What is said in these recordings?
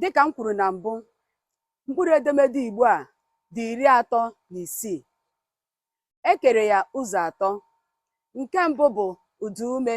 Dịka m kwuru na mbụ, mkpụrụ edemede Igbo a dị iri atọ na isii. E kere ya ụzọ atọ. Nke mbụ bụ ụdaume.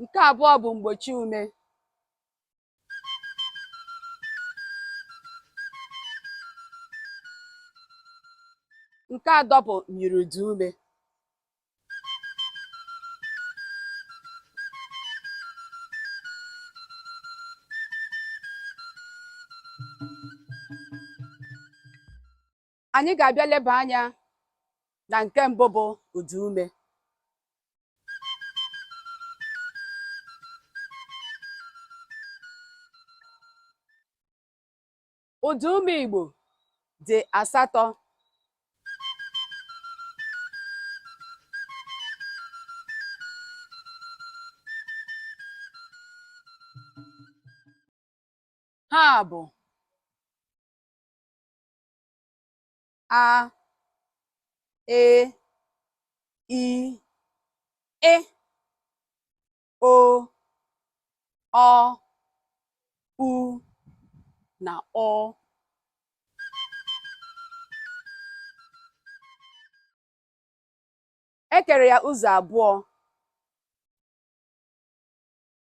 nke abụọ bụ mgbochi ume nke atọ bụ myiri ụda ume anyị ga-abịa leba anya na nke mbụ bụ ụda ume ụda ume Igbo dị asatọ ha bụ a e i e o ọ u na ọ e kere ya ụzọ abụọ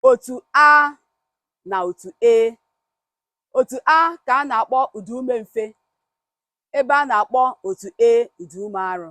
otu a na otu e otu a ka a na-akpọ ụda ume mfe ebe a na-akpọ otu e ụda ume arụ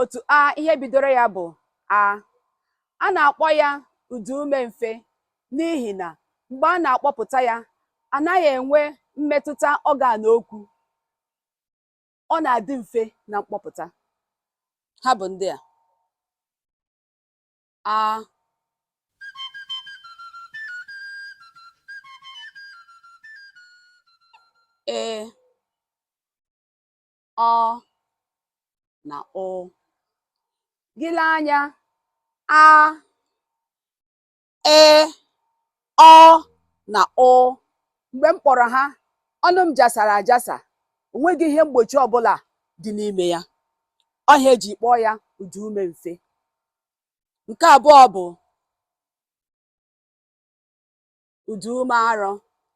otu a ihe bidoro ya bụ a a na-akpọ ya ụda ume mfe n'ihi na mgbe a na-akpọpụta ya anaghị enwe mmetụta ọgan okwu ọ na-adị mfe na mkpọpụta ha bụ ndị a a ị ọ na ụ gị lee anya a ị ọ na ụ mgbe m kpọrọ ha ọnụ m jasara ajasa o nweghị ihe mgbochi ọbụla dị n'ime ya ọ ya e ji kpọọ ya ụda ume mfe nke abụọ bụ ụda ume arọ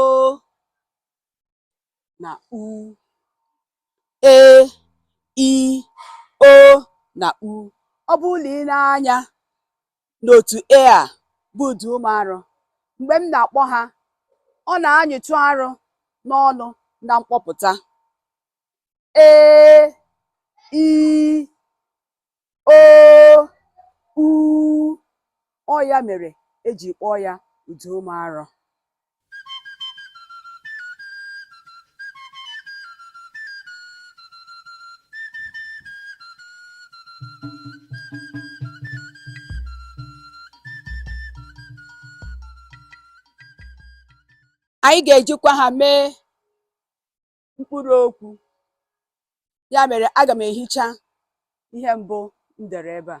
o na u e i o na u ọ bụrụ na ị nee anya n'otu a bụ ụdaume arọ mgbe m na-akpọ ha ọ na-anyịtụ arọ n'ọnụ na mkpọpụta e i o u ọ ya mere e ji kpọọ ya ụdaume arọ anyị ga-ejikwa ha mee mkpụrụ okwu ya mere aga m ehicha ihe mbụ m dere ebe a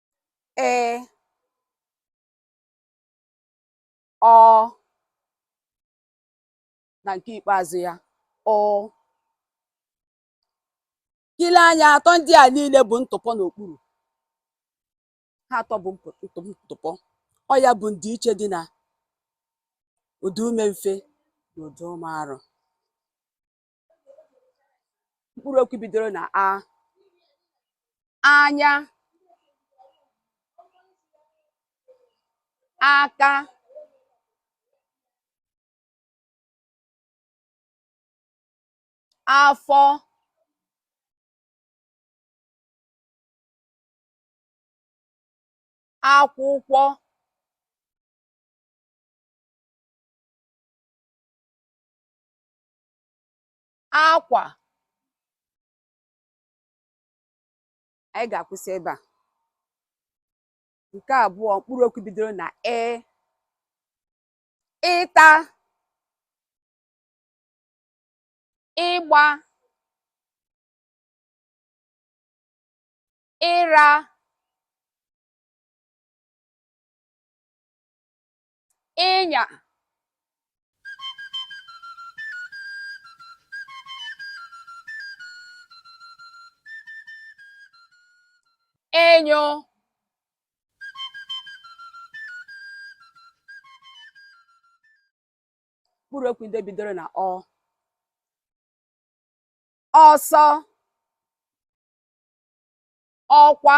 ị ọ na nke ikpeazụ ya ụ i lee anya atọ ndị a niile bu ntụpọ n'okpuru ha atọ bu mpo- ntụ- ntụpọ ọ ya bụ ndịiche dị na ụdaume mfe na ụdaume arọ mkpụrụ okwu bidoro na a anya aka afọ akwụkwọ akwa anyị ga-akwụsị ebe a nke abụọ mkpụrụ okwu bidoro na ị ịta ịgba ịra ịnya ịnyụ mkpụrụ okwu ndị bidoro na ọ ọsọ ọkwa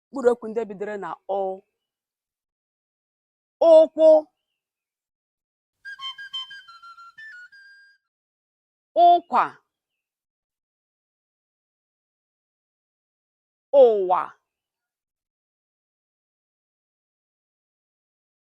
mkpụrụ okwu ndị bidoro na ụ ụkwụ ụkwa ụwa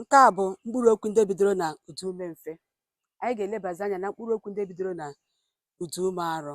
Nke a bụ mkpụrụ okwu ndị bidoro na ụdaume mfe. Anyị ga-elebazi anya na mkpụrụ okwu ndị bidoro na ụdaume arọ.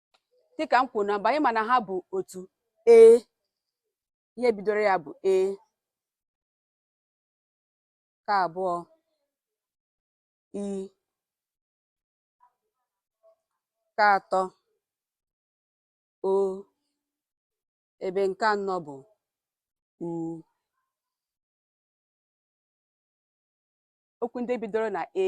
dịka m kwuru na mbụ anyị ma na ha bụ otu ee ihe bidoro ya bụ e nke abụọ i nke atọ o ebe nke anọ bụ u okwu ndị bidoro na e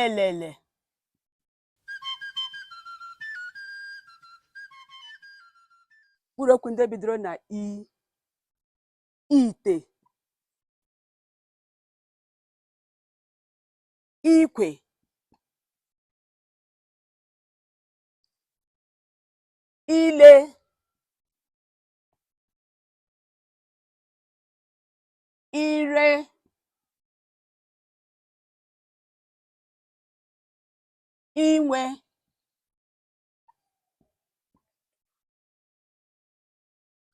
elele mkpụrụ okwu ndị bidoro na i ite ikwe ile ire inwe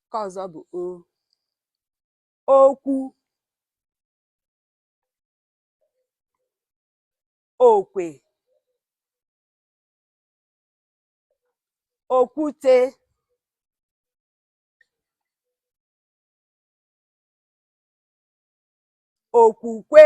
nke ọzọ bụ o okwu okwe okwute okwukwe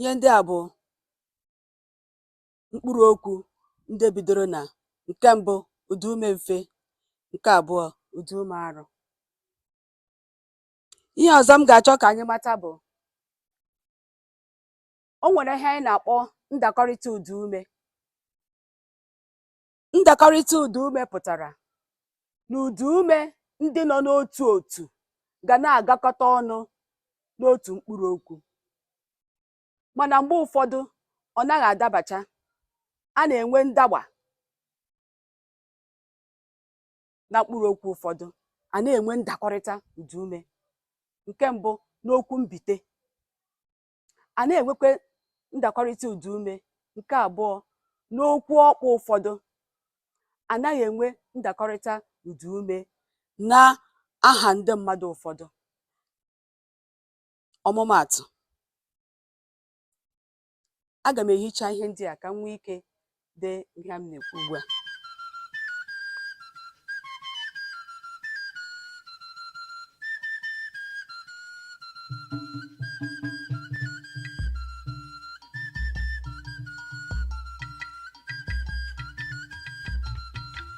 ihe ndị a bụ mkpụrụ okwu ndị bidoro na nke mbụ ụdaume mfe nke abụọ ụdaume arụ ihe ọzọ m ga-achọ ka anyị mata bụ o nwere ihe anyị na-akpọ ndakọrịta ụdaume ndakọrịta ụdaume pụtara na ụdaume ndị nọ n'otu otu ga na-agakọta ọnụ n'otu mkpụrụ okwu mana mgbe ụfọdụ ọ naghị adabacha a na-enwe ndagba na mkpụrụ okwu ụfọdụ a na-enwe ndakọrịta ụdaume nke mbụ n'okwu mbite anaghị enwekwa ndakọrịta ụda ume nke abụọ n'okwu ọkpụ ụfọdụ anaghị enwe ndakọrịta ụda ume na aha ndị mmadụ ụfọdụ ọmụmaatụ aga m ehicha ihe ndị a ka m nwee ike dee ihe a m na-ekwu ugbu a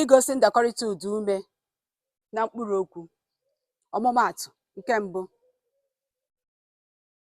igosi ndakọrịta ụda ume na mkpụrụ okwu ọmụmaatụ nke mbụ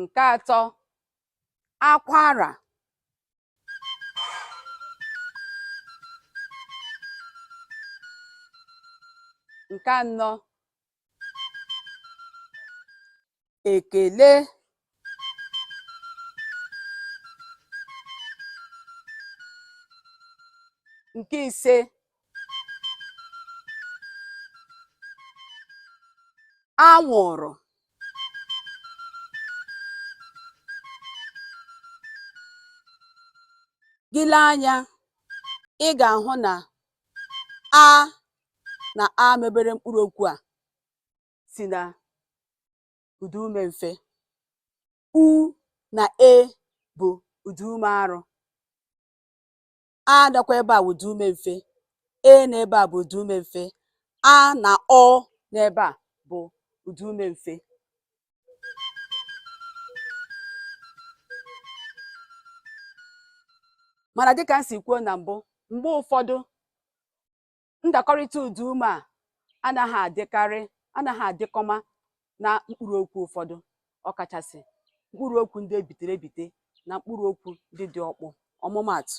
nke atọ akwara nke anọ ekele nke ise anwụrụ gị lee anya ị ga-ahụ na a na a mebere mkpụrụ okwu a si na ụda ume mfe u na e bụ ụda ume arụ a nọkwa ebe a wụ ụda ume mfe e na ebe a bụ ụda ume mfe a na ụ na ebe a bụ ụda ume mfe mana dịka m si kwuo na mbụ mgbe ụfọdụ ndakọrịta ụda ume a anaghị adịkarị anaghị adịkọma na mkpụrụ okwu ụfọdụ ọkachasị mkpụrụ okwu ndị e bitere ebite na mkpụrụ okwu ndị dị ọkpụ ọmụmaatụ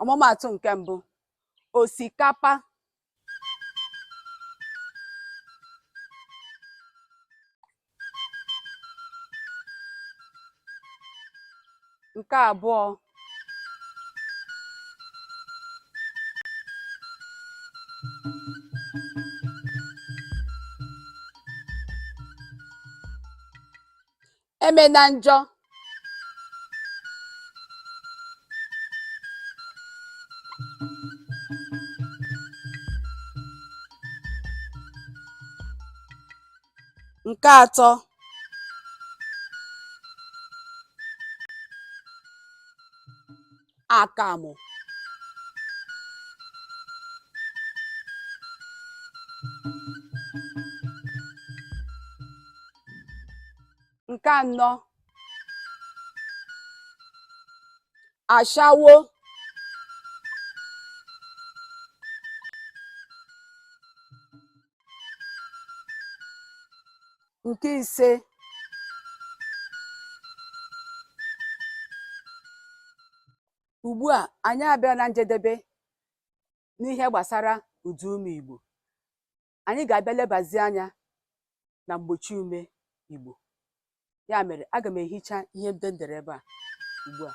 ọmụmaatụ nke mbụ osikapa nke abụọ emena njọ nke atọ akamụ nke anọ ashawo nke ise ugbu a anyị abịala na njedebe n'ihe gbasara ụda ume Igbo anyị ga-abịa lebazi anya na mgbochi ume Igbo ya mere aga m ehicha ihe ndị m dere ebe a ugbu a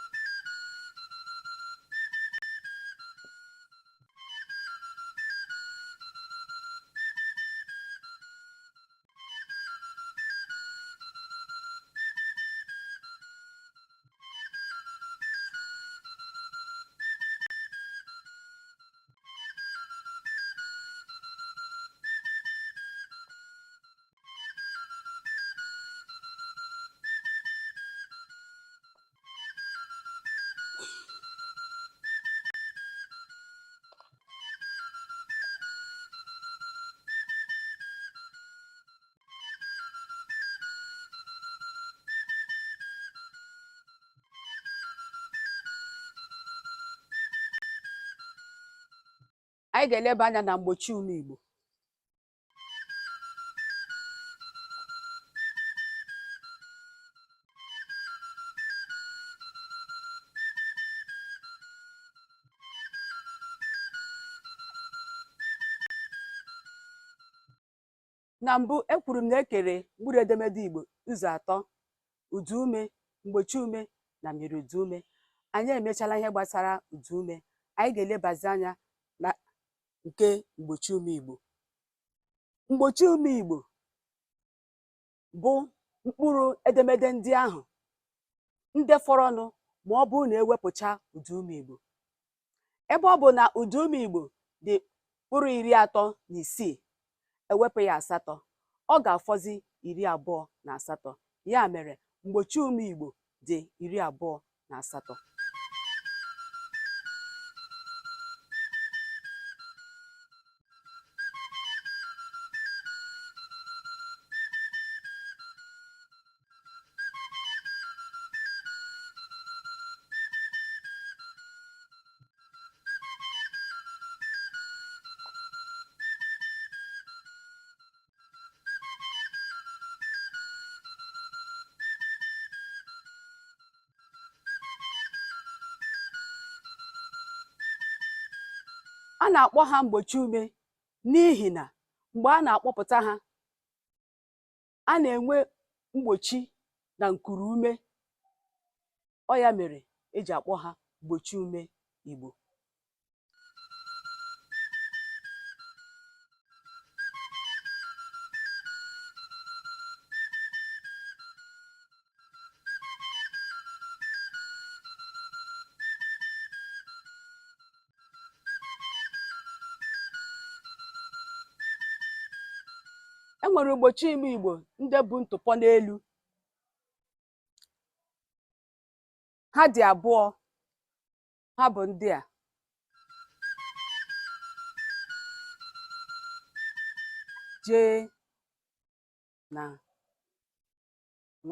anyị ga-eleba anya na mgbochi ume Igbo na mbụ ekwuru m na e kere mkpụrụ edemede Igbo ụzọ atọ ụda ume mgbochi ume na myiri ụda ume anyị emechala ihe gbasara ụda ume anyị ga-elebazi anya na nke mgbochi ume Igbo. Mgbochi ume Igbo bụ mkpụrụ edemede ndị ahụ ndị fọrọnụ ma ọ bụrụ na e wepụcha ụda ume Igbo. Ebe ọ bụ na ụda ume Igbo dị mkpụrụ iri atọ na isii e wepụ ya asatọ, ọ ga-afọzi iri abụọ na asatọ. Ya mere, mgbochi ume Igbo dị iri abụọ na asatọ. a na-akpọ ha mgbochi ume n'ihi na mgbe a na-akpọpụta ha a na-enwe mgbochi na nkuru ume ọ ya mere e ji akpọ ha mgbochi ume Igbo e nwere mgbochi ume igbo ndị bu ntụpọ n'elu ha dị abụọ ha bụ ndị a j na ṅ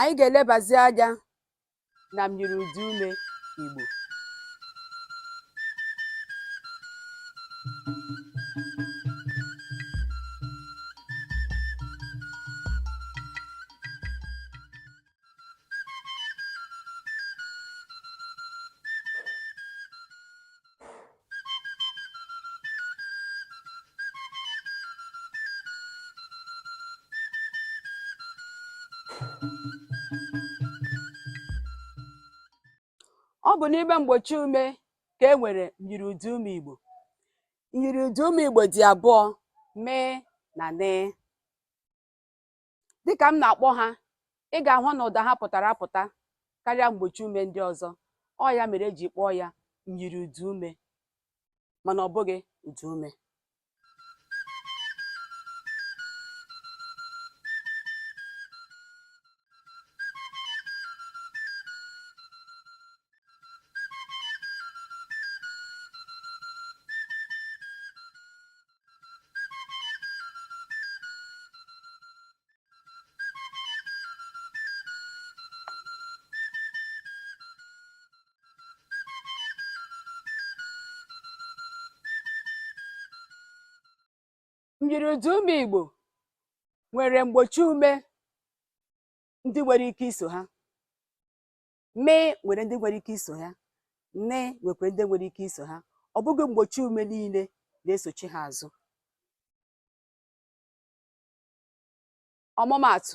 anyị ga-elebazi anya na myiri ụda ume Igbo ọ bụ n'ime mgbochi ume ka e nwere myiri ụda ume Igbo myiri ụda ume Igbo dị abụọ m na n Dịka m na-akpọ ha, ị ga-ahụ na ụda ha pụtara apụta karịa mgbochi ume ndị ọzọ. Ọ ya mere e ji kpọọ ya myiri ụdaume mana ọ bụghị ụdaume. Myiri ụdaume Igbo nwere mgbochi ume ndị nwere ike iso ha. mee nwere ndị nwere ike iso ha nee nwekwara ndị nwere ike iso ha ọ bụghị mgbochi ume niile na-esochi ha azụ ọmụmaatụ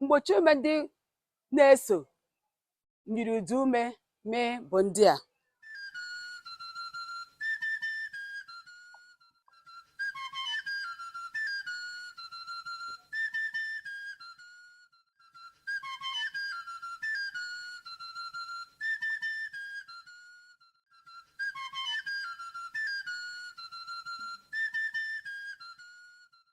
mgbochi ume ndị na-eso myiri ụdaume mee bụ ndị a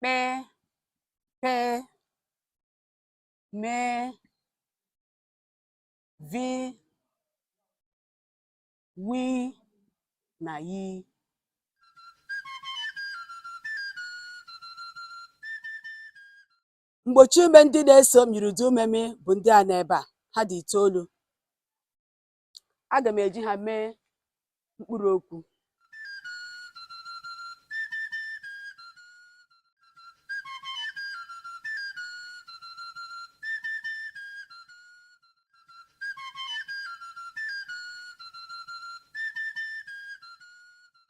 kpe pe me vi wi na yi mgbochi ume ndị na-eso myiri ụdaume mee bụ ndị a n'ebe a ha dị itoolu aga m eji ha mee mkpụrụ okwu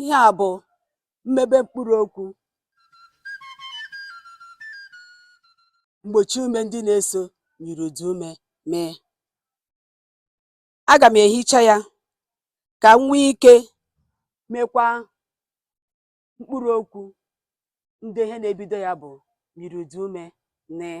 ihe a bụ mmebe mkpụrụ okwu mgbochi ume ndị na-eso myiri ụdaume mee aga m ehicha ya ka m nwee ike mekwa mkpụrụ okwu ndị ihe na-ebido ya bụ myiri ụdaume nee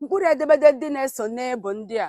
mkpụrụ edemede ndị na-eso nị bụ ndị a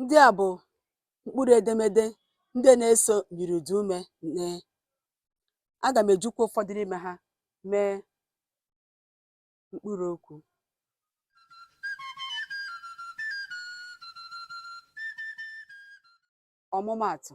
Ndị a bụ mkpụrụ edemede ndị na-eso myiri ụda ume nee. Aga m ejikwa ụfọdụ n'ime ha mee mkpụrụ okwu. Ọmụmaatụ,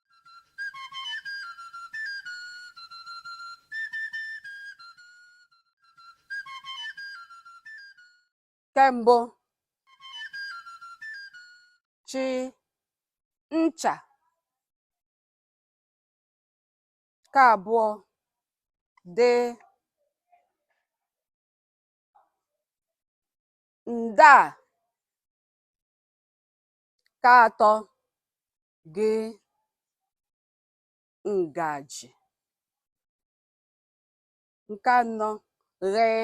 nke mbụ chi ncha nke abụọ dị nda nke atọ gị ngaji nke anọ ghee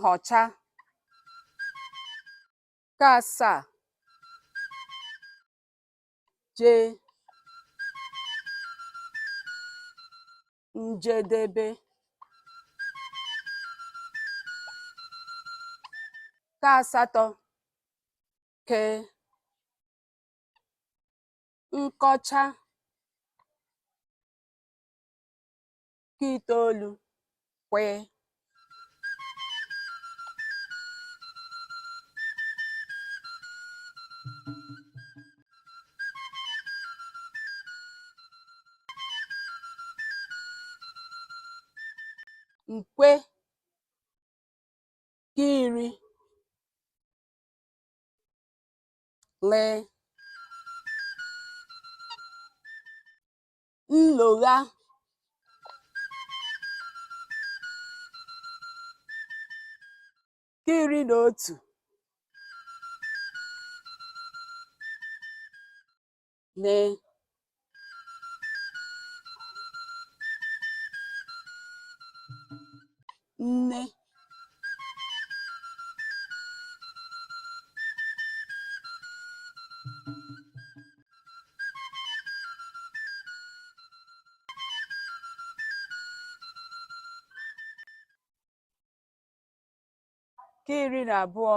nhọcha nke asaa jee njedebe nke asatọ ke nkọcha nke itoolu kwee nkwe nke iri lee nlogha nke iri na otu nee nne nke iri na abụọ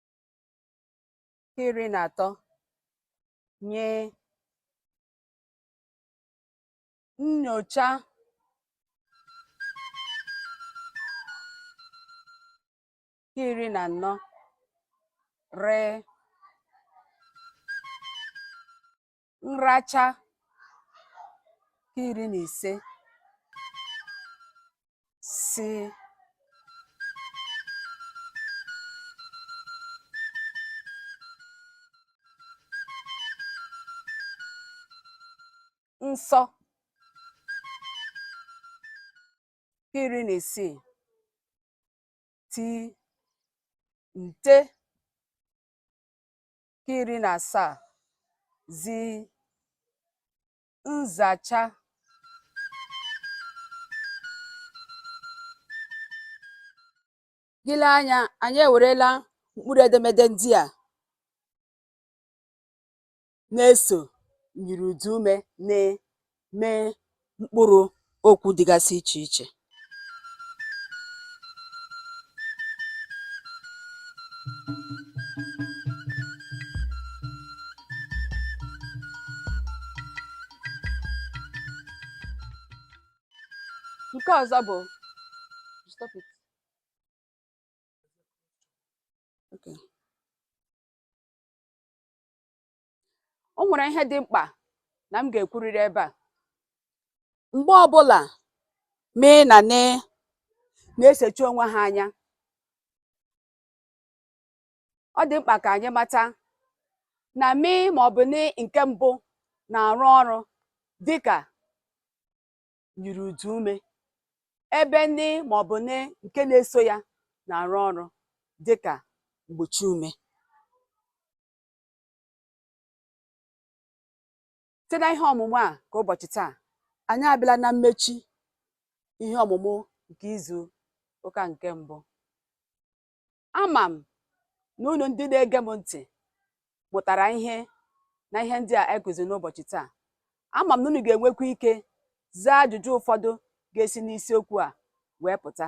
iri na atọ ny nnyocha nke iri na anọ r nracha nke iri na ise s nsọ iri na isii t nte nke iri na asaa z nzacha gị lee anya anyị ewerela mkpụrụ edemede ndị a na-eso myiri ụda ume n mee mkpụrụ okwu dịgasị iche iche. Nke ọzọ bụ stop it. Okay. o nwere ihe dị mkpa na m ga-ekwurịrị ebe a mgbe ọbụla m na n na-esochi onwe ha anya ọ dị mkpa ka anyị mata na m ma ọ bụ n nke mbụ na-arụ ọrụ dịka myiri ụda ume ebe m ma ọ bụ n nke na-eso ya na-arụ ọrụ dịka mgbochi ume site na ihe ọmụmụ a nke ụbọchị taa anyị abịala na mmechi ihe ọmụmụ nke izu ụka nke mbụ ama m na unu ndị na-ege m ntị mụtara ihe na ihe ndị a e kuziri n'ụbọchị taa ama m na unu ga-enwekwa ike zaa ajụjụ ụfọdụ ga-esi n'isiokwu a wee pụta